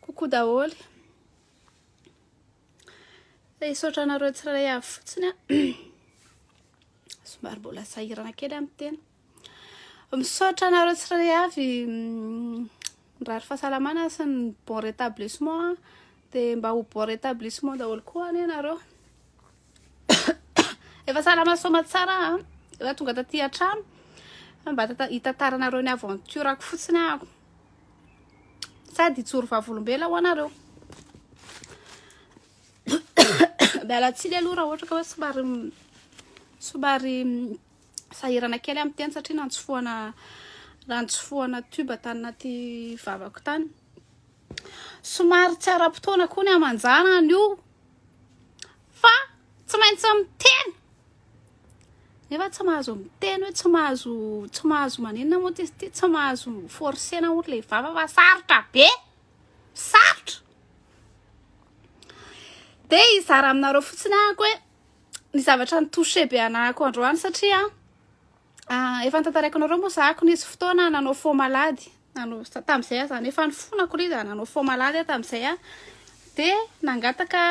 Coucou daholo. Hisaotra anareo tsirairay avy fotsiny a. Somary mbola sahirana kely amin'ny tena. Misaotra anareo tsirairay avy mm, mirary fahasalamana sy ny bon rétablissement dia mba ho bon rétablissement daholo koa anie nareo. Efa salama soma tsara a. Ah. Efa tonga taty an-trano. Mba hitantaranareo ny aventure ako fotsiny ako. Ah. Sady hijoro vavolombela ho anareo. Miala tsiny aloha raha ohatra ka hoe somary somary sahirana kely amin'ny teny satria nantsofohana nantsofohana tuba tany anaty vavako tany. Somary tsy ara-potoana koa ny amanjara an'io fa tsy maintsy miteny nefa tsy mahazo miteny hoe tsy mahazo tsy mahazo maninona moa ty ty tsy mahazo forcena moa le vava fa sarotra be sarotra de hizara aminareo fotsiny ahako hoe ny zavatra ny touché be anahako androany satria Ah, efa nitantaraiko anareo moa zahako nisy fotoana nanao fo malady nanao tamin'izay aho zany efa nifonako ilay izy nanao fo malady aho tamin'izay a de nangataka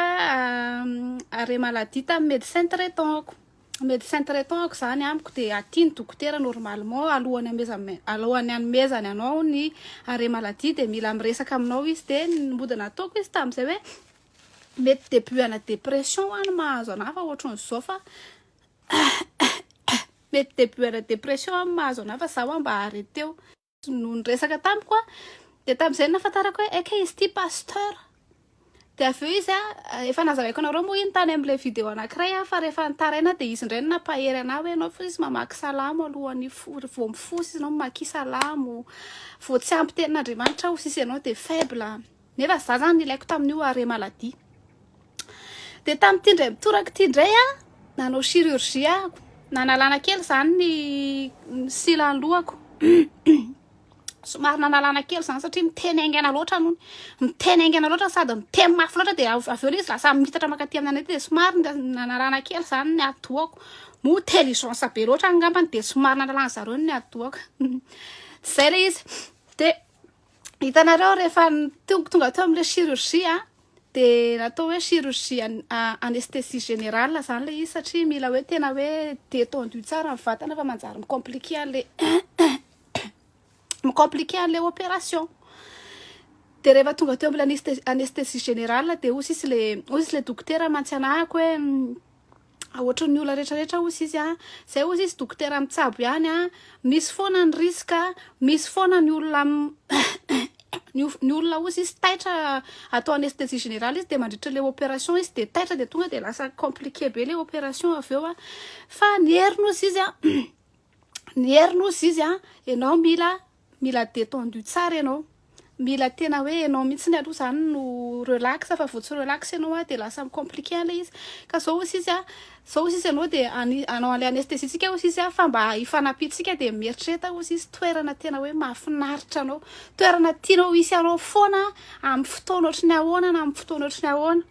arrêt maladie tamin'ny médecin traitant ako médecin traitant ako zany amiko de aty ny dokotera normalement alohan'ny hamezan- alohan'ny hanomezany anao ny arrêt maladie de mila miresaka aminao izy de ny mody nataoko izy tamin'izay hoe mety début ana dépression any mahazo anah fa ohatran'izao fa Mety début ana dépression am mahazo anah fa za wa mba arreteo. no niresaka tamiko a de tamzay nahafantarako hoe ekey izy ity pasteur de avy eo izy a efa nazavaiko anareo moa iny tany amle video anakiray a fa rehefa nitaraina de izy indray no nampahery anah hoe enao fosy mamaky salamo alohany vao mifosa izy enao mamakia salamo vao tsy ampy tenin'Andriamanitra aho sisa enao de faible Nefa za zany nilaiko tamin'io arrêt maladie. Dia tamin'ity indray mitoraka ity indray a, nanao chirurgie aho, nanalana kely izany ny silan'ny lohako. Somary nanalana kely izany satria miteny haingana loatra aloha. Miteny haingana loatra sady miteny mafy loatra dia avy eo ilay izy lasa miitatra mankaty amin'ny an'aty dia somary nanalana kely izany ny atidohako. Moa intelligence be loatra angambany dia somary nanalana zareo ny atidohako. Tsy izay ilay izy. Dia. hitanareo rehefa tonga tonga teo amin'ilay chirurgie dia natao hoe chirurgie anesthésie générale zany ilay izy satria mila hoe tena hoe détendu tsara ny vatana fa manjary mi-compliquer an'ilay mi-compliquer an'ilay opération dia rehefa tonga teo amin'ilay anesthésie générale dia hoy sisy ilay hoy sisy ilay dokotera mantsianahako hoe Ohatran'ny olona rehetra rehetra ozy izy a, zay ozy izy dokotera mitsabo ihany a, misy foana ny risque, misy foana ny olona ny olona ozy izy taitra atao anesthésie générale izy de mandritra le opération izy de taitra de tonga de lasa compliqué be le opération avy eo a, fa ny heriny ozy izy a, ny heriny ozy izy a, enao mila Mila detendu tsara ianao. Mila tena hoe ianao mihitsy aloha izany no relax fa vao tsy relax ianao dia lasa mi-compliquer ilay izy. Ka izao hoy sisy a, izao hoy sisy ianao dia hanao an'ilay anesthésie tsika hoy sisy a fa mba hifanampiantsika dia mieritrereta hoy sisy toerana tena hoe mahafinaritra anao, toerana tianao hisy anao foana amin'ny fotoana ohatry ny ahoana na amin'ny fotoana ohatry ny ahoana.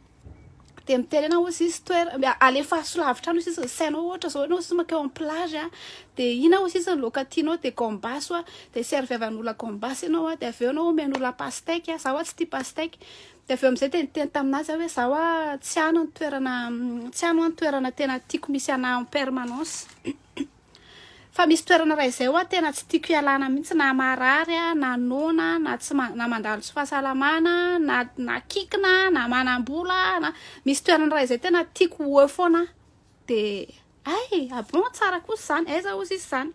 dia miteny anao hoe sisy toerana alefaso lavitra any sisiny sainao ohatra zao ianao sisy makeo amin'ny plage a dia ina ho sisiny loka tianao dia gambas oa dia serve avy an'ola gambas ianao a dia avy eo ianao omen'ola pastèque a za oa tsy tia pastèque dia avy eo amin'izay dia niteny tamin'azy aho hoe za oa tsy any ny toerana tsy any oa ny toerana tena tiako misy anahy en permanence Fa misy toerana raha izay hoa tena tsy tiako ialana mihitsy na marary aho na noana na tsy na mandalo tsy fahasalamana na na kikina na manambola na misy toerana raha izay tena tiako ho eo foana de ay abon tsara kosa izany aiza ozy izy izany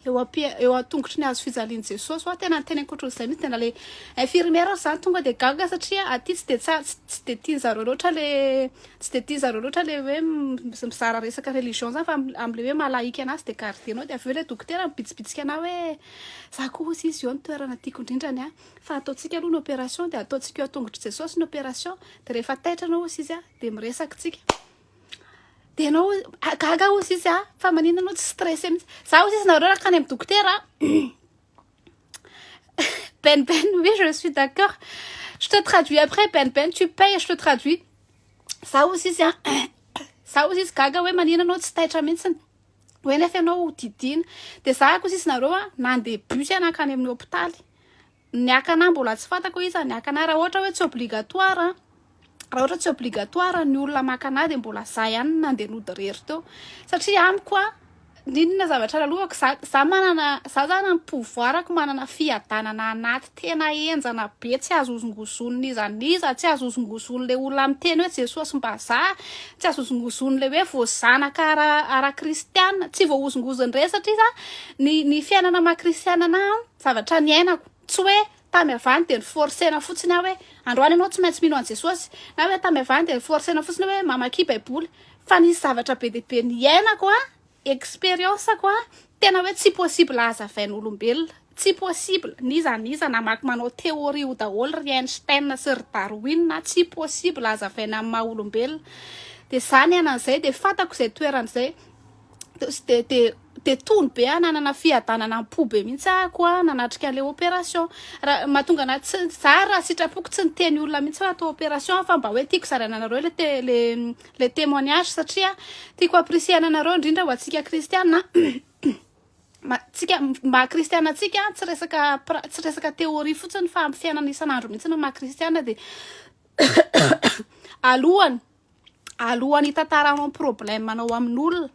eo ampi eo an-tongotry ny hazo fijalian'i Jesosy hoa tena niteny ankoatr'izay mihitsy tena le infirmière zany tonga de gaga satria aty tsy de tsara tsy de tian'zareo loatra le Tsy dia tia zareo loatra le hoe mizara resaka religion zany fa amle hoe maha laïque anazy de garder nao de avy eo le dokotera mibitsibitsika anao hoe za ko ozy izy eo no toerana tiako indrindra ny ahy fa ataontsika aloha ny operation de ataontsika eo an-tongotr'i Jesosy ny operation de rehefa taitra anao ozy izy de miresaka tsika de enao gaga ozy izy fa manina anao tsy stressé mihitsy za ozy izy nareo raha akany amin'ny dokotera Ben Ben, oui, je suis d'accord. Je te traduis après, Ben Ben, tu payes, je te traduis. Ça aussi, c'est un... Ça aussi, c'est gaga, ouais, manina, non, c'est taitra, mintsiny. hoe nefa ianao ho didina dia za koa sisy nareo a nandeha bus iana akany amin'ny hôpitaly ny akana mbola tsy fantako iza ny akana raha ohatra hoe tsy obligatoire raha ohatra tsy obligatoire ny olona maka anah de mbola za ihany nandeha nody rery teo satria amiko a inona zavatra lalovako za za manana za zany am pouvoir ko manana fiadanana anaty tena henjana be tsy azo hozongozonina iza n'iza tsy azo hozongozon'le olona miteny hoe jesosy mba za tsy azo hozongozon'le hoe vo zanaka ara ara kristiana tsy voahozongozon'ireny satria za ny ny fiainana maha kristiana anah zavatra niainako tsy hoe Tamy avany dia noforcena fotsiny aho hoe androany ianao tsy maintsy mino an'i Jesosy, na hoe tamy avany dia noforcena fotsiny hoe mamakia baiboly, fa nisy zavatra be dia be niainako an, experience-ko an, tena hoe tsy possible hazavain'olombelona, tsy possible, n'iza n'iza namaky manao théorie io daholo ry Einstein sy ry Darwin an, tsy possible hazavaina amin'ny maha olombelona, dia za niaina an'izay dia fantako izay toerana izay. de de de tony be ah nanana fiadanana am-po be mihitsy ako ah nanatrika an'ilay opération raha mahatonga anahy tsy za raha sitrapoko tsy niteny olona mihitsy raha atao opération ah, fa mba hoe tiako zaraina anareo le te le le témoignage satria tiako apprécier-na anareo indrindra ho antsika kristiana ma tsika maha kristiana antsika ah, tsy resaka pra- tsy resaka théorie fotsiny fa amin'ny fiainana isan'andro mihitsy no maha kristiana dia alohany alohan'ny hitataranao problème anao amin'olona,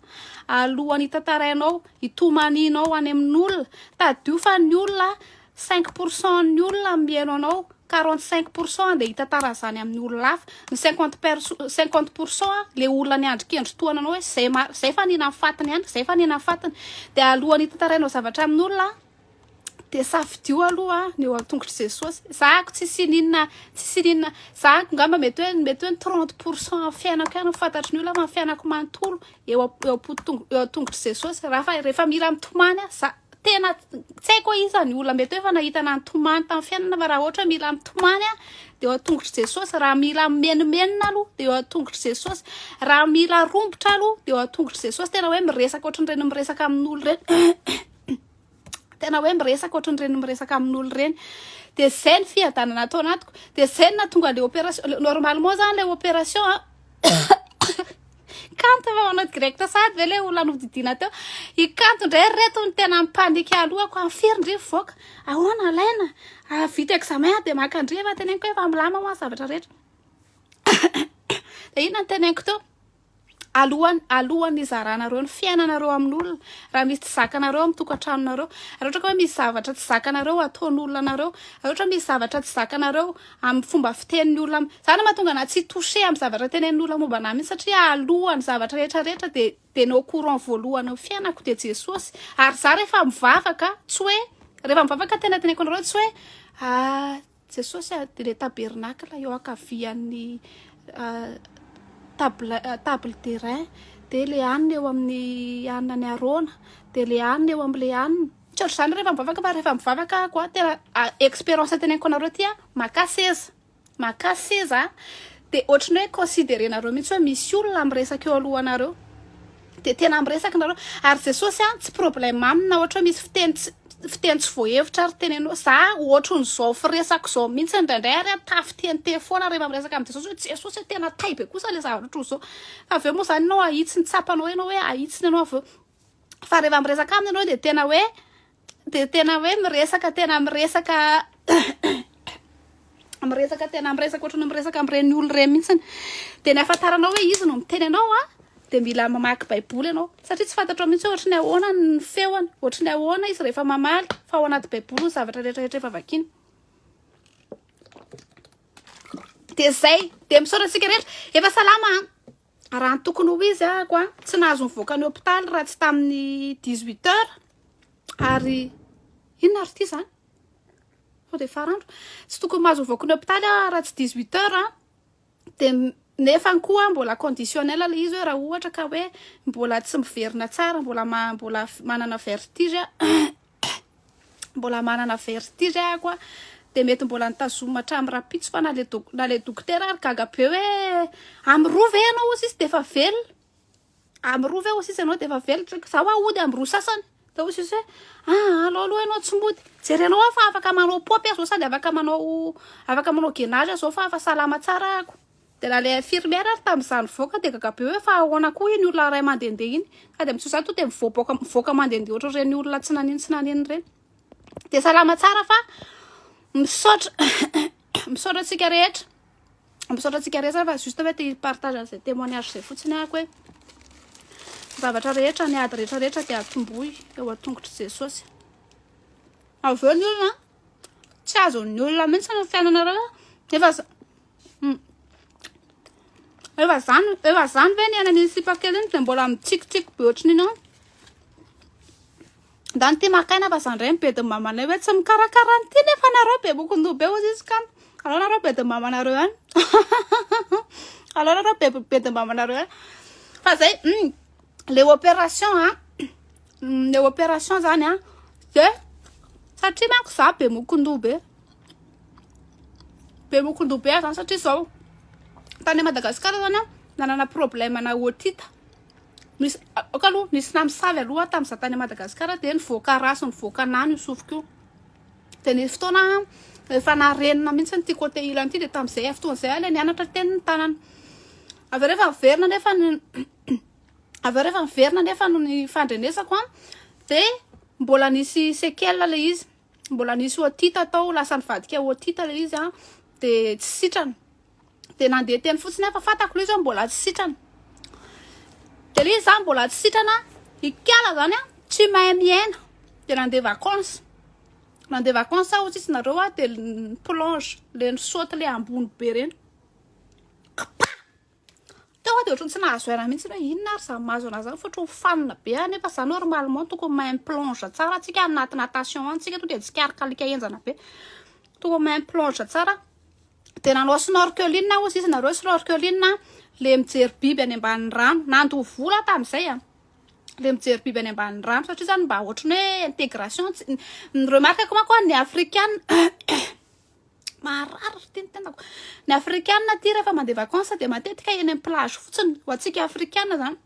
alohan'ny hitantarainao, hitomaninao any amin'olona, tadio fa ny olona, cinq pour cent ny olona mihaino anao, quarante cinq pour cent dia hitantara an'izany amin'ny olona hafa, ny cinquante perso- cinquante pour cent le olona niandry kendry toa anao hoe zay ma- zay fa nihinan'ny fatiny ihany, zay fa nihinan'ny fatiny, dia alohan'ny hitantarainao zavatra amin'olona, dia safidio aloha ny eo an-tongotr'i Jesosy. Zahako tsy sininina, tsy sininina. Zahako ngamba mety hoe mety hoe 30 pourcent amin'ny fiainako ihany fantatry ny olona amin'ny fiainako manontolo eo eo am-poto- eo an-tongotr'i Jesosy. Rafa rehefa mila mitomany aho, za tena tsy haiko hoe iza ny olona mety hoe efa nahita na nitomany tamin'ny fiainana fa raha ohatra hoe mila mitomany aho dia eo an-tongotr'i Jesosy. Raha mila mimenomenona aloha dia eo an-tongotr'i Jesosy. Raha mila rombotra aloha dia eo an-tongotr'i Jesosy. Tena hoe miresaka ohatran'ireny miresaka amin'olo ireny. tena hoe miresaka ohatran'ireny miresaka amin'olo ireny de zay ny fiadanana atao anatiko de zay na tonga le opération normalement zany le opération a kanto fa manao direct sady ve le olona nodidina teo ikanto indray reto ny tena mipanika alohako amin'ny firy ndry mivoaka ahoana alaina vita examen de makandriva teneniko hoe efa milama moa zavatra rehetra de inona ny teneniko teo Alohan'ny alohan'ny hizaranareo ny fiainanareo amin'olona, raha misy tsy zakanareo amin'ny tokantranonareo, raha ohatra ka hoe misy zavatra tsy zakanareo ataon'olona anareo, raha ohatra misy zavatra tsy zakanareo amin'ny fomba fitenin'ny olona am-, izany no mahatonga anà tsy hi-toucher amin'ny zavatra tenenin'ny olona momba anà mihitsy satria alohan'ny zavatra rehetra rehetra dia dia ny au courant voalohany amin'ny fiainako dia Jesosy. Ary izaho rehefa mivavaka tsy hoe rehefa mivavaka ny tena teneniko anareo tsy hoe ah-. Jesosy ary dia ilay tabernakla eo ankavian'ny table table d'airain dia ilay hanina eo amin'ny hanina ny Arona dia ilay hanina eo amin'ilay hanina tsy ohatr'izany rehefa mivavaka fa rehefa mivavaka ako a tena expérience teneniko anareo ty a maka seza maka seza dia ohatry ny hoe considerenareo mihitsy hoe misy olona miresaka eo alohanareo Dia tena miresaka nareo. Ary Jesosy an, tsy problème aminy na ohatra hoe misy fiteny tsy fiteny tsy voahevitra ary teneno. Za ohatrin'izao firesako izao mihitsy indraindray ary an, tafitente foana rehefa miresaka amin'i Jesosy hoe Jesosy e, tena tay be kosa le zavatra ohatrin'izao. Fa avy eo moa zany ianao ahitsy ny tsapanao ianao hoe ahitsiny ianao avy eo. Fa rehefa miresaka aminy ianao dia tena hoe dia tena hoe miresaka tena miresaka miresaka tena miresaka ohatrany miresaka amin'ireny olona ireny mihitsiny dia ny afantaranao hoe izy no miteny anao a dia mila mamaky baiboly ianao satria tsy fantatrao mihitsy hoe ohatrany ahoana ny feony ohatrany ahoana izy rehefa mamaly fa ao anaty baiboly ny zavatra rehetrarehetra efa vakina dia zay dia misaotra antsika rehetra efa salama Raha ny tokony ho izy ah ko tsy nahazo nivoaka ny hopitaly raha tsy tamin'ny dix huit heures ary inona ary ity zany sao de farandro tsy tokony mahazo mivoaka ny hopitaly ah raha tsy dix huit heures ah de nefa ny koa mbola conditionnel ilay izy hoe raha ohatra ka hoe mbola tsy miverina tsara mbola mbola manana vertige mbola manana vertige ahako a de mety mbola nitazomina hatramin'ny rahampitso fa na le dok- na le dokotera ary gaga be hoe amin'ny roa ve ianao hoy sisa de efa velona amin'ny roa ve hoy sisa ianao de efa velona Tsaiko, za hoa hody amin'ny roa sasany de hoy sisa hoe aa alao aloha ianao tsy mody jerenao aho fa afaka manao paopy aho zao sady afaka manao afaka manao gainage aho zao fa efa salama tsara ahako Dia raha ilay infirmière ary tamin'izaho nivoaka dia gaga be hoe fa ahoana koa iny olona iray mandehandeha iny. Ka dia amin'izao izaho tonga dia mivoaboaka mivoaka mandehandeha ohatr'ireny olona tsy nanino tsy nanino ireny. Dia salama tsara fa misaotra misaotra antsika rehetra. Misaotra antsika rehetra fa juste hoe te hi-partage an'izay témoignage izay fotsiny ahako hoe zavatra rehetra ny ady rehetra rehetra dia atombohy eo an-tongotr'i Jesosy. Avy eo ny olona tsy azon'ny olona mihitsy ny fiainanareo nefa Efa zany, efa zany ve ny aina ny sipa kely iny dia mbola mitsikitsiky be ohatry ny inona? Ndao ity maka aina fa za ndray ny bedin'ny mamanay hoe tsy mikarakara an'ity nefa nareo bebok'ndoha be hozy izy kany aleo nareo bedin'ny mamanareo ihany aleo nareo bedin'ny mamanareo ihany fa zay hum le opération a le opération zany a de satria manko za be mokon-doha be be mokon-doha be zany satria zao tany Madagascar zany aho nanana problème ana otite misy ok aloha nisy namosavy aloha aho tamiza tany Madagascar de nivoaka ratsy nivoaka anah ny sofiko io de nisy fotoana aho efa narenina mihitsy ity côté ilany ity de tamizay avy fotoana zay aho le nianatra teny ny tanana Avy eo rehefa niverina nefa ny avy eo rehefa niverina nefa no ny fandrenesako an de mbola nisy sequelle le izy mbola nisy otite tao lasa nivadika otite le izy an de tsy sitrana de nandeha teny fotsiny aho fa fantako le izy mbola tsy sitrana de le izy zany mbola tsy sitrana ikala zany an tsy mahay miaina de nandeha vacances nandeha vacances aho hotsitsy nareo an de plonge le nisaute le ambony be reny Kpa! Teo aho dia ohatran'ny tsy nahazo aina mihitsy hoe inona ary izany mahazo anà izany fa ohatran'ny mifanina be aho nefa izany normalement tokony mahay mi-plonge tsara tsika any anaty natation any tsika tonga dia tsikarik'alika henjana be. Tokony mahay mi-plonge tsara. Dia nanao snorkeling aho hozy izy nareo snorkeling a le mijery biby any ambanin'ny rano. Nandoa vola aho tamin'izay a! le mijery biby any ambanin'ny rano satria izany mba ohatran'ny hoe intégration tsy ny remarque-ko manko a ny afrikana Maharary ry teny tenako. Ny afrikana aty rehefa mandeha vacances dia matetika eny amin'ny plage fotsiny. Ho antsika afrikana zany.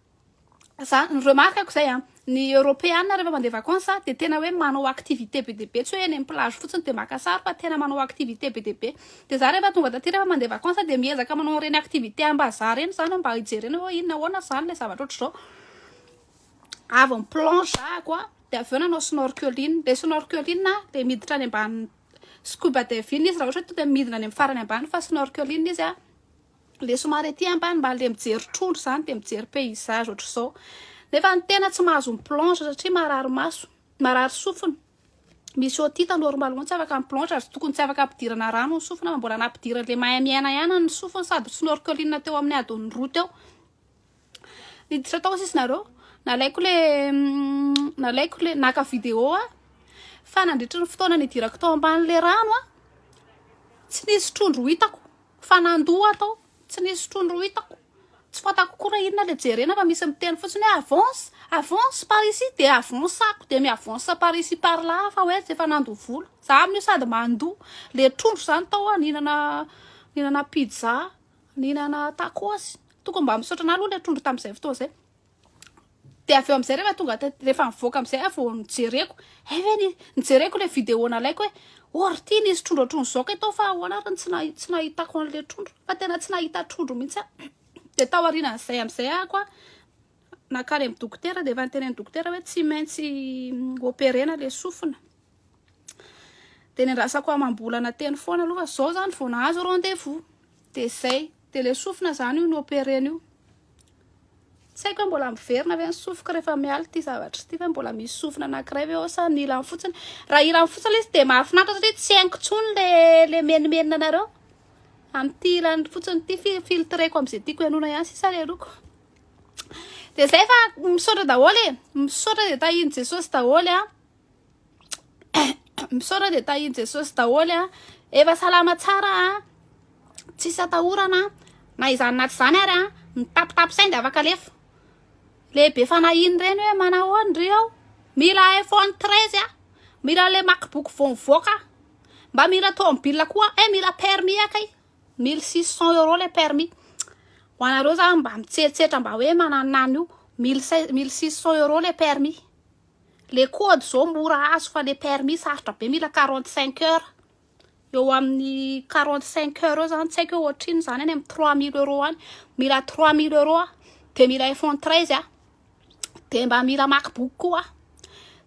Za ny remarque ko zay a. Ny eoropeana rehefa mandeha vacances dia tena hoe manao activité be dia be tsy hoe eny amin'ny plage fotsiny dia maka sary fa tena manao activité be dia be. Dia za rehefa tonga taty rehefa mandeha vacances dia miezaka manao ireny activité ambazaha ireny zany mba hijerena hoe inona ahoana zany ilay zavatra ohatr'izao. Avy ny plongea ko a dia avy eo nanao snorkeling. Ilay snorkeling dia miditra any ambanin'ny. scuba diving izy raha ohatra hoe tonga dia midina any amin'ny farany ambany fa snorkeling izy an, ilay somary ety ambany mba ilay mijery trondro izany dia mijery paysage ohatr'izao. Nefa ny tena tsy mahazo mi plonge satria marary maso, marary sofina. Misy otite normalement tsy afaka mi plonge ary tokony tsy afaka ampidirana rano ny sofina fa mbola nampidiran'ilay mahay miaina ihany ny sofiny sady snorkeling teo amin'ny adiny roa teo. niditra tao sisy nareo nalaiko le mm, nalaiko le naka vidéo a fa nandritra ny fotoana nidirako tao amban'le rano a tsy nisy trondro hitako fa nandoa tao tsy nisy trondro hitako tsy fatako kora inona le jerena fa misy miteny fotsiny hoe avance avance par ici de avancako de mi avance par ici par là fa hoe tsy efa nandoa vola za amin'io sady mandoa le trondro zany tao a ninana ninana pizza Nihinana tacos. Tokony mba misaotra anah aloha ilay trondro tamin'izay fotoana izay. Dia avy eo amin'izay rehefa tonga tety rehefa nivoaka amin'izay aho vao nijereko. Hay ve ny nijereko ilay vidéo nalaiko hoe oh ry ty nisy trondro ohatran'ny zao kay tao fa ahoana ary ny tsy nahi- tsy nahitako an'ilay trondro. Fa tena tsy nahita trondro mihitsy aho. Dia tao aorianan'izay amin'izay aho koa nankany amin'ny dokotera dia efa niteny ny dokotera hoe tsy maintsy operena ilay sofina. dia nendrasako amam-bolana teny foana aloha fa zao zany vao nahazo rendez-vous dia zay dia le sofina zany io ny operena io tsy haiko hoe mbola miverina ve ny sofiko rehefa miala ity zavatra ity fa mbola misy sofina anankiray ve ao sa ny ilany fotsiny raha ilany fotsiny le izy dia mahafinaritra satria tsy haingo tsony le le menimenina anareo amin'ity ilany fotsiny ity fi filtreko am'izay tiako ianona ihany sisa le loko dia zay fa misaotra daholo e misaotra de tahin'i jesosy daholo a misaotra dia tahin'i jesosy daholo a efa salama tsara a tsisy atahorana na izany na tsy izany ary a mitapitapy saindy afaka alefa lehibe fanahiny ireny hoe manahoany ry ao mila iphone treize a mila le macbook vao mivoaka mba mila tomobile koa e mila permis akay mille six cent euro le permis ho anareo zany mba mitseritseritra mba hoe mananan'io mille six cent euro le permis Le code zao mora azo fa le permis sarotra be mila quarante cinq heures eo amin'ny quarante cinq heures eo zany tsy haiko hoe ohatrinona zany any amin'ny trois mille euros any mila trois mille euros aho de mila iphone treize aho de mba mila macbook koa aho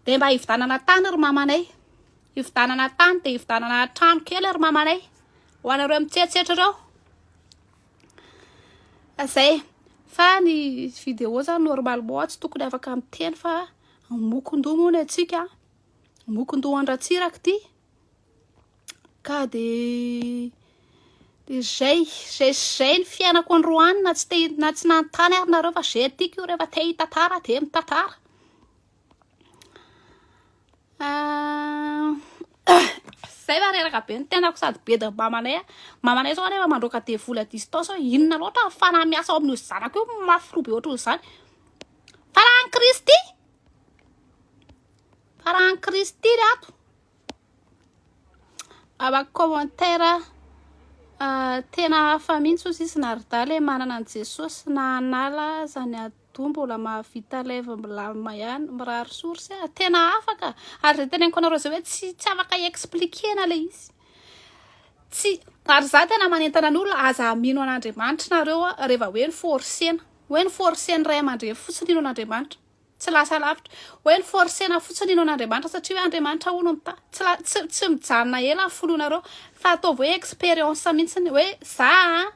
de mba hividanana tany ry mamanay hividanana tany de hividanana trano kely ry mamanay ho anareo mitsetsetra ireo Zay, fa ny video zany normalement tsy tokony afaka miteny fa mokon-doha moa ny antsika an, mokon-dohan-dRatsiraka ty ka de de zay, zay sy zay ny fiainako androany na tsy te-na tsy nanontany ary nareo fa zay tiako io refa te hitantara de mitantara. Ah, zay va reraka be ny tenako sady be de mamanay a. Mamanay zao anefa mandroaka devoly à distance hoe inona loatra ny fanahy miasa ao amin'io zanako io mafy roa be ohatran'izany. Fa raha an'i Kristy, fa raha an'i Kristy ry ato. Abako commentaire ah, tena hafa mihintsy ozy izy Narda le manana an'i Jesosy na hanala aza ny ado mbola mahavita live milamina ihany, mirary source ah, tena hafa ka, ary zay teneniko anareo zay hoe tsy tsy afaka expliquer-na le izy, tsy ary za tena manentana ny olona aza mino an'Andriamanitra nareo ah, reva hoe noforcer-na, hoe noforcer-ny ray aman-dreny fotsiny hino an'Andriamanitra. Tsy lasa lavitra. Hoe noforcena fotsiny hinoana Andriamanitra satria hoe Andriamanitra hono no mitahy. Tsy la, tsy, tsy mijanona ela ny fononareo fa ataovy hoe expérience mihitsiny hoe za an,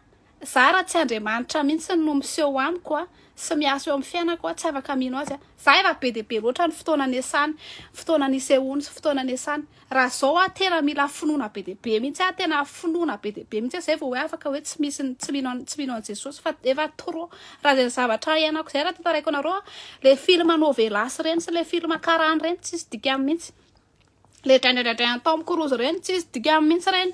za raha tsy Andriamanitra mihitsiny no miseho amiko an, sy miasa eo amin'ny fiainako an, tsy afaka mino azy an. Za efa be dia be loatra ny fotoana niasany, fotoana nisehoany sy fotoana niasany. Raha zao ah tena mila finoana be dia be mihitsy ah, tena finoana be dia be mihitsy ah zay vao hoe afaka hoe tsy misy ny tsy mino tsy mino an'i Jesosy fa efa trop raha zay zavatra iainako zay raha tantaraiko anareo ah, le film novelas ireny sy le film karana ireny tsisy dikany mihitsy, le draindraindraindrain Tom Cruise ireny tsisy dikany mihitsy ireny.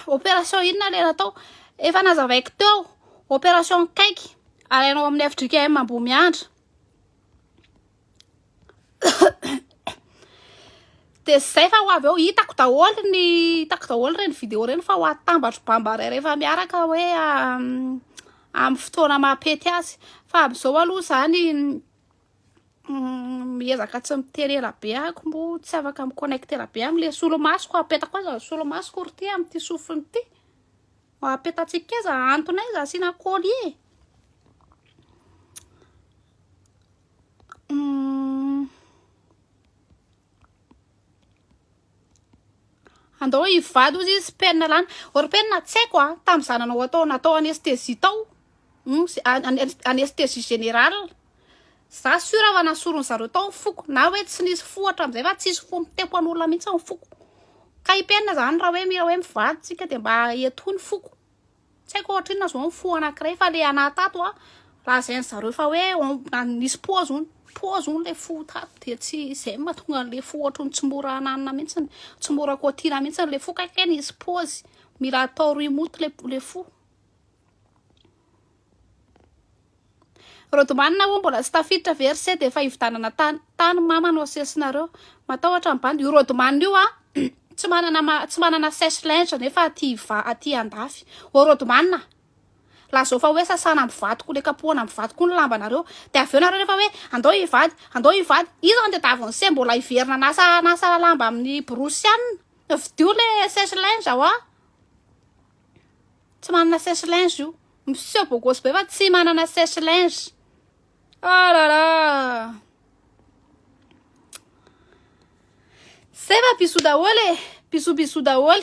Opération inona le natao? Efa nazavaiko teo, opération kaiky alainao amin'ny FJKM Ambohimiandra. dia izay fa ho avy eo hitako daholo ny hitako daholo ireny video ireny fa ho atambatro bambaray rehefa miaraka hoe amin'ny fotoana mampety azy fa amin'izao aloha izany miezaka tsy miteny ela be ahiko mbo tsy afaka mi connecter be amin'ilay solomasoko apetako aza ny solomasoko ry ty amin'ity sofina ity ho apetantsika aza antony aza asiana collier Andao hivady hozy izy penina lany. Or penina tsy haiko a, tamin'izaho nanao atao natao anesthésie tao, anesthésie générale, za sur fa nasoron'i zareo tao ny foko na hoe tsy nisy fo hatramin'izay fa tsisy fo mitempo an'olona mihitsy ny foko. Ka i penina zany raha hoe mila hoe mivady tsika dia mba etoho ny foko. Tsy haiko ohatrinona zao ny fo anankiray fa le anah tato a raha zain zareo fa hoe nisy poa zony poa zony le fo tato dia tsy zay mahatonga an'le fo ohatrin'ny tsy mora ananina mihitsiny tsy mora kotiana mihitsiny le fo kay kay nisy pozy mila atao remote le le fo Rodomanina ho'a mbola tsy tafiditra ve ry se dia efa hividanana tany tany mama no asesinareo matahotra ny bandy io rodomanina io an tsy manana tsy manana sèche linge nefa aty va aty andafy ô rodomanina la zao fa hoe sasana am vato ko le kapohana am vato ko ny lambanareo dia avy eo nareo rehefa hoe andao hivady andao hivady io zany dia davon'ny se mbola hiverina anasa anasa lamba amin'ny borosy ihany fidio le sèche linge ho'a tsy manana sèche linge io miseho beau gosse be fa tsy manana sèche linge oh là là zay fa bisous daholo e bisous bisous daholo